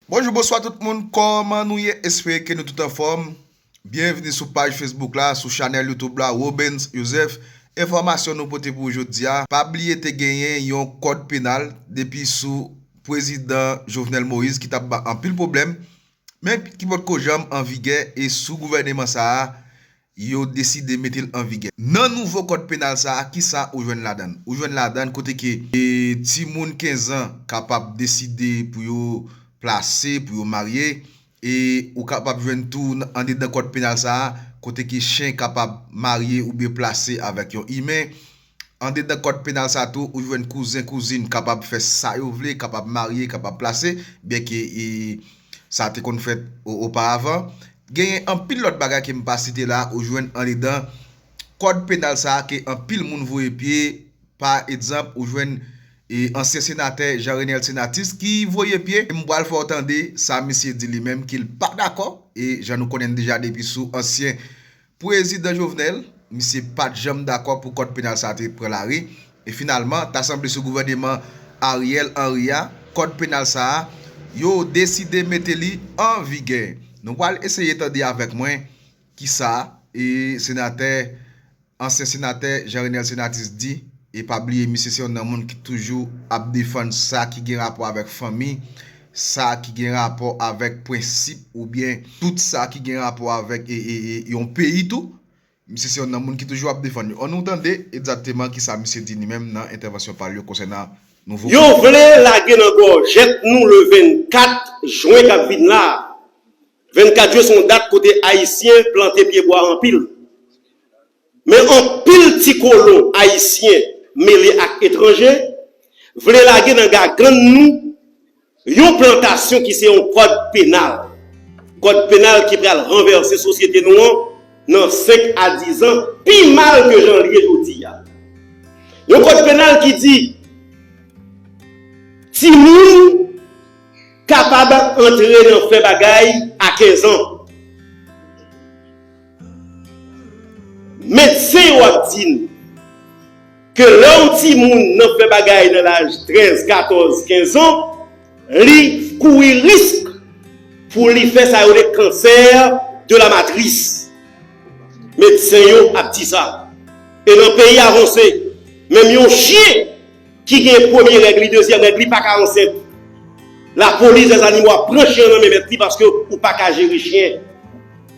Bonjou bonswa tout moun kòman nou ye espere ke nou tout anfòm byenvni sou paj Facebook la sou chanèl YouTube la Robens Joseph enfòmasyon nou pote pou ou jodia pa bliye te genyen yon kòd penal depi sou pwezidan Jovenel Moïse ki tap ba anpil pwoblèm men ki potko janm anvigè e sou gouvèneman sa a Yo deside mete l an vigè. Nan nouvo kòd penal sa a, ki sa ou jwenn ladan l? Ou jwenn ladan l kote ke timoun kenzan kapab deside pou yo plase, pou yo marye. E ou kapab jwenn tou andedan kòd penal sa a kote ke chen kapab marye oubyen plase avèk yon imen. Andedan kòd penal sa tou ou jwenn kouzen, kouzin kapab fè sa yo vle, kapab marye, kapab plase, byenke sa te konn fèt oparavan. Genyen anpil lòt bagay ke m pa site la ou jwenn andedan kòd penal sa ke anpil moun voye pye, pa egzanp ou jwenn ansyen senatè Jean Renel Senatus ki voye pye, m pral fè w tande sa misye di li menm ke l pa dakò, e jan nou konnen deja depi sou ansyen Prezidan Jovenel, misye pat janm dakò pou kòd penal sa te pran lari, e finalman ta sanble sou gouvèneman Ariel Henry a, kòd penal sa a, yo deside mete li an vigè. Nou pral eseye tande avèk mwen ki sa e senatè, ansyen senatè Jean Renel Senatus di, e pa bliye misye se yonn nan moun ki toujou ap defann sa ki gen rapò avèk fanmi sa ki gen rapò avèk prensip oubyen tout sa ki gen rapò avèk yon peyi tou, misye se yon nan moun ki toujou ap defann yo. An nou tande egzakteman ki sa misye di li menm nan entèvansyon pa l yo konsènan nouvo Yo vle lage nan gòjèt nou le 24 jwen k ap vin la a. 24 jwen se yon dat kote Ayisyen plante pyebwa anpil. Men anpil ti kolon ayisyen mele ak etranje vle lage nan gagann nou yon plantasyon ki se yon kòd penal. Kòd penal ki pral ranvèse sosyete nou an nan 5 a 10 an pi mal ke jan l ye jodi a. Yon kòd penal ki di timoun kapab antre nan fè bagay a 15 an. Medsen yo ap di n ke lè yon timoun nan fè bagay nan laj 13, 14, 15 an, li kouri risk pou li fè sa yo rele cancer de la matrice. Medsen yo ap di sa. E nan peyi avanse, menm yon chyen. ki gen premye règ li dezyèm règ li paka ansent la police des animaux ap pran chien an nan men mèt li paske ou paka jere chien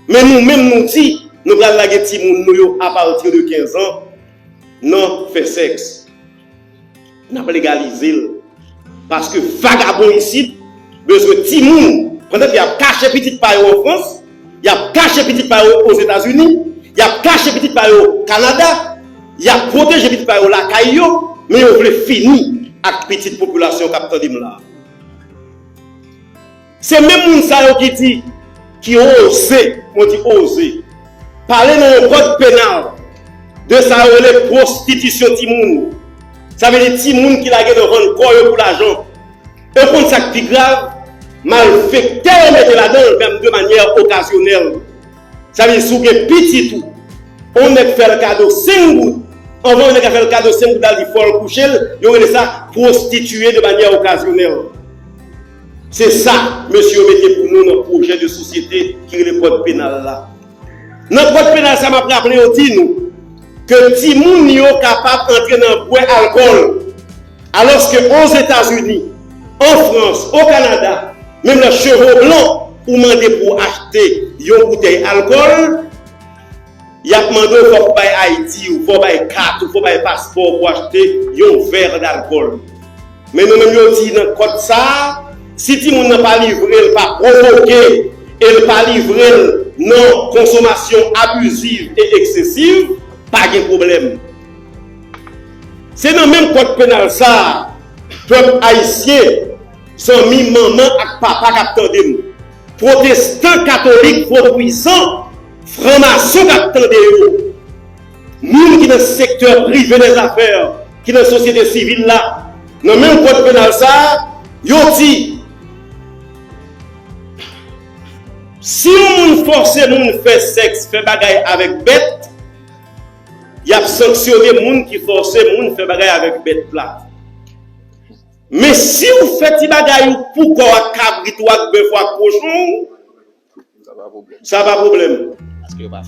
men nou menm nou di nou pral lage timoun nou yo a partir de 15 ans nan fè sex nap legalize l paske vagabon isit bezwen timoun pandan ke yap kache pitit pa yo an France. y ap kache pitit pa yo Ozetazini, y ap kache pitit pa yo Kanada, y ap pwoteje pitit pa yo lakay yo, men yo vle fini ak pitit popilasyon k ap tande m la a. Se menm moun sa yo ki di, ki oze, mwen di oze, pale nan yon kòd penal de sa yo rele pwostitisyon timoun, sa vle di timoun ki lage nan vann kò yo pou lajan. E w konn sa k pi grav? Malfektè yo mete ladan l vèm de manyè okazyonèl. Sa vle di si w gen pitit ou, on nèg fè l kado 5 goud, anvan yon nèg a fè l kado 5 goud la di fò l kouche l, yo rele sa pwostitiye de manyè okazyonèl. Se sa mesye yo mete pou nou nan pwojè de sosyete ki rele kòd penal la. Nan kòd penal sa map raple yo di nou ke timoun yo kapab antre nan bwè alkòl alòske Ozetazini, an Frans, o Kanada, menm lè chevo blan ou mande pou w achte yon boutèy alkòl yap mande w fòk ou bay ID ou, fò w bay kat ou, fò w bay paspò w pou achte yon vè dalkòl. Men nou menm yo di nan kòd sa a, si timoun nan pa livre l pa pwovoke e l pa livre l nan konsomasyon abiziv e eksesiv, pa gen pwoblèm. Se nan menm kòd penal sa a, pèp ayisyen, zanmi manman ak papa k ap tande m, pwotestan, katolik, pwotwisan, franmason k ap tande yo, Moun ki nan sektè prive dèzafè, ki nan sosyete sivil la, nan menm kòd penal sa a, yo di, Si yon moun fòse moun fè sèks, fè bagay avèk bèt, y ap sanksyone moun ki fòse moun fè bagay avèk bèt la. Men si ou fè ti bagay ou pou kò w ak kabrit ou, ak bèf ou, ak kochon ou, Sa pa pwoblèm.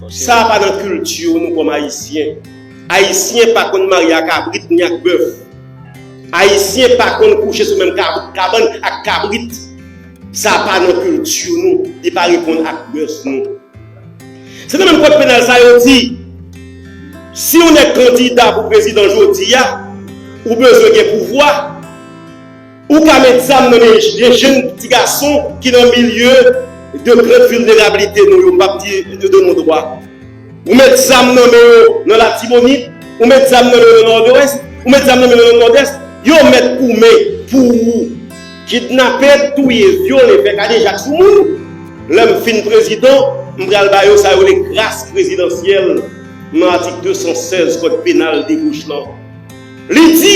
Sa pa nan kilti nou kòm Ayisyen. Ayisyen pa konn marye a kabrit ni ak bèf. Ayisyen pa konn kouche sou menm kabann ak kabrit. Sa pa nan kilti nou. Li pa reponn ak mès nou. Se nan menm kòd penal sa yo di, si yon nèg kandida pou prezidan jodi a, ou bezwen gen pouvwa. Ou ka met zam nan men de jenn ti gason ki nan milye de grande vulnerabilité nou yo, m pap di de non dwa. Ou met zam nan men yo nan Latibonit, ou met zam nan men yo nan Nòdwès, ou met zam nan men yo nan Nòdès, yo mèt koumen pou ou. Kidnape, touye, vyole, fè kadejak sou moun, lè m fin prezidan, m pral ba yo sa yo rele gras prezidansyèl nan atik 216 kòd penal debouch lan. Li di.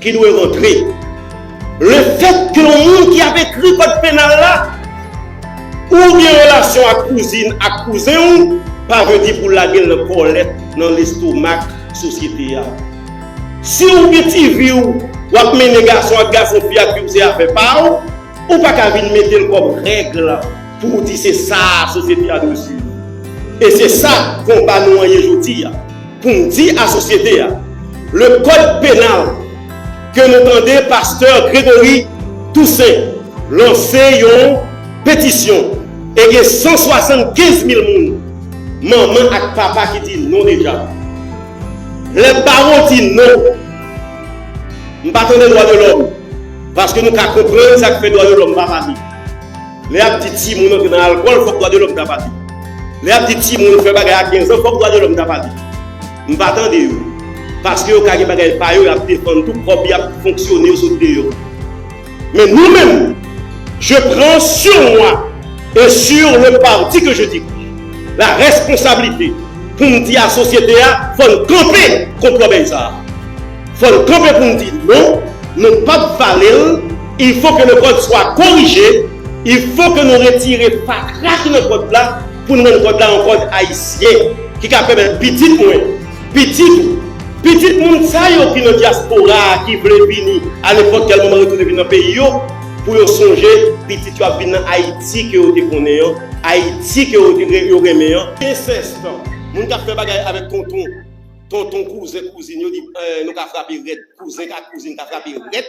ki dwe rantre. Lefèt ke yon moun ki ap ekri kòd penal la pou w gen relasyon ak kouzin ak kouzen w pa vle di pou w lage l nan kòlèt nan lestomak sosyete a. Si w gen ti vi w w ap mennen gason ak gason fi ak fi w se afè pa w, ou pa ka vin mete l kòm règle pou w di se sa a sosyete a dwe swiv. E se sa konba nou an ye jodi a. Pou m di a sosyete a, le kòd penal ke nou tande pastè Gregory Toussaint lanse yon petisyon e gen 175 mil moun, manman ak papa ki di non deja. Lè bawon di non, m pa tande dwa de lòm, paske nou ka konprann sa k fè dwa de lòm pa pale. Lè yap di timoun antre nan alkòl fòk dwa de lòm ta pale. Lè yap di timoun fè bagay a 15 an fòk dwa de lòm ta pale. M pa tande yo. Paske yo ka gen bagay pa yo yap defann tou kòm yap fonksyone yo sot deyò. Men nou menm je pran sur moi e sur le parti ke je dirige la responsablite pou m di a sosyete a fò n kanpe kont lòbèy sa a. Fò n kanpe pou n di non, nou pap vale l. Il faut que le code soit corrigé, il faut que nou retire fatra ki nan code la pou n rann code la yon code ayisyen ki ka pèmèt pitit mwen, pitit ou, pitit moun sa yo ki nan dyaspora a ki vle vini a nenpòt kèl moman retounen vin nan peyi yo pou yo sonje pitit yo ap vin nan Ayiti ke yo te konnen an, Ayiti ke yo renmen an. Incest, moun kap fè bagay avèk tonton, tonton kouzen kouzin yo nou ka frape rèd, kouzen ak kouzin ka frape rèd.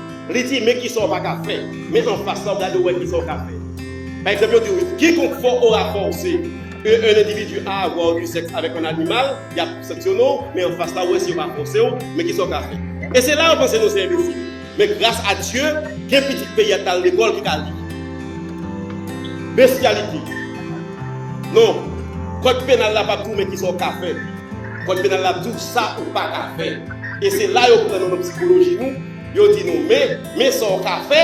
Li di, Men kisa w pa ka fè. Men anfas la, w gade w wè kisa w ka fè. Pa egzanp, yo di w, Kikonk fwa ou rapòse yon endividi a avwa du sèks avèk yon animal, y ap sanksyone w, men anfas la, w wè si yo pa fòse w, men kisa w ka fè. E se la yo panse nou se enbesil. Men gras a Dye, gen pitit peyi a ki al lekòl ki ka li. Bestyalite. Non. Kòd penal la p ap di w men kisa w ka fè. Kòd penal la ap di w sa ou pa ka fè. e se la yo pran nou nan psikoloji nou, yo di nou men, men sa w ka fè,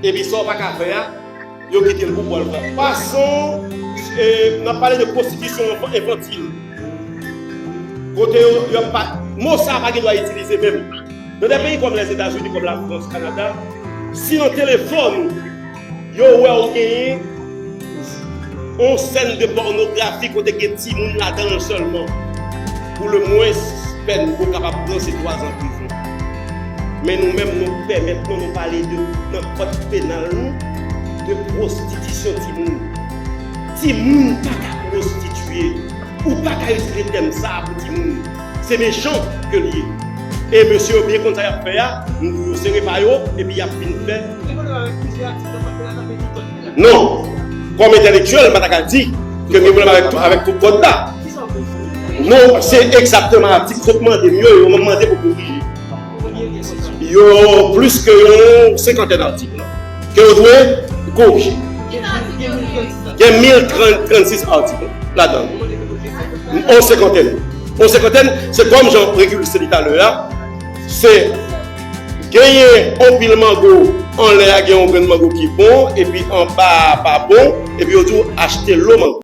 epi sa w pa ka fè a, yo kite l pou bò l pran fason n ap pale de pwostitisyon enfantil, kote yo ap pa, mo sa a pa gen dwa itilize menm nan de peyi kòm Lèzetazini, kòm Lafrans, Kanada, si nan telefòn ou. Yo wè w genyen yon sèn de pònografi kote gen timoun ladan l sèlman, pou le mwens pèn ou kapab pran se twazan prizon. Men nou menm nou pè mètnan nou pale de nan kòd penal nou de pwostitisyon timoun. Timoun pa ka pwostitiye. Ou pa ka itilize tèm sa a pou timoun. Se mechan ke li ye. E mesye yo byen konn sa yap fè a, yo sere pa yo epi yap vin fè. Gen pwoblèm avèk plizyè atik nan kòd penal la men gen dòt ki la. Non. Kòm entèlektyèl, m pa ta ka di ke m gen pwoblèm avèk tout avèk tout kòd la. Kisa ou vle di? Non, se egzakteman atik yo t mande m yo e yo menm mande pou m korije. Yo plis ke yon senkantèn atik lan ke ou dwe korije. Gen 1036 atik ladan l. Yon senkantèn yon senkantèn se kòm jan Régulus te di talè a, se genyen yon pil mango anlè a gen yon grenn mango ki bon epi anba a pa bon epi yo di w achte lo mango.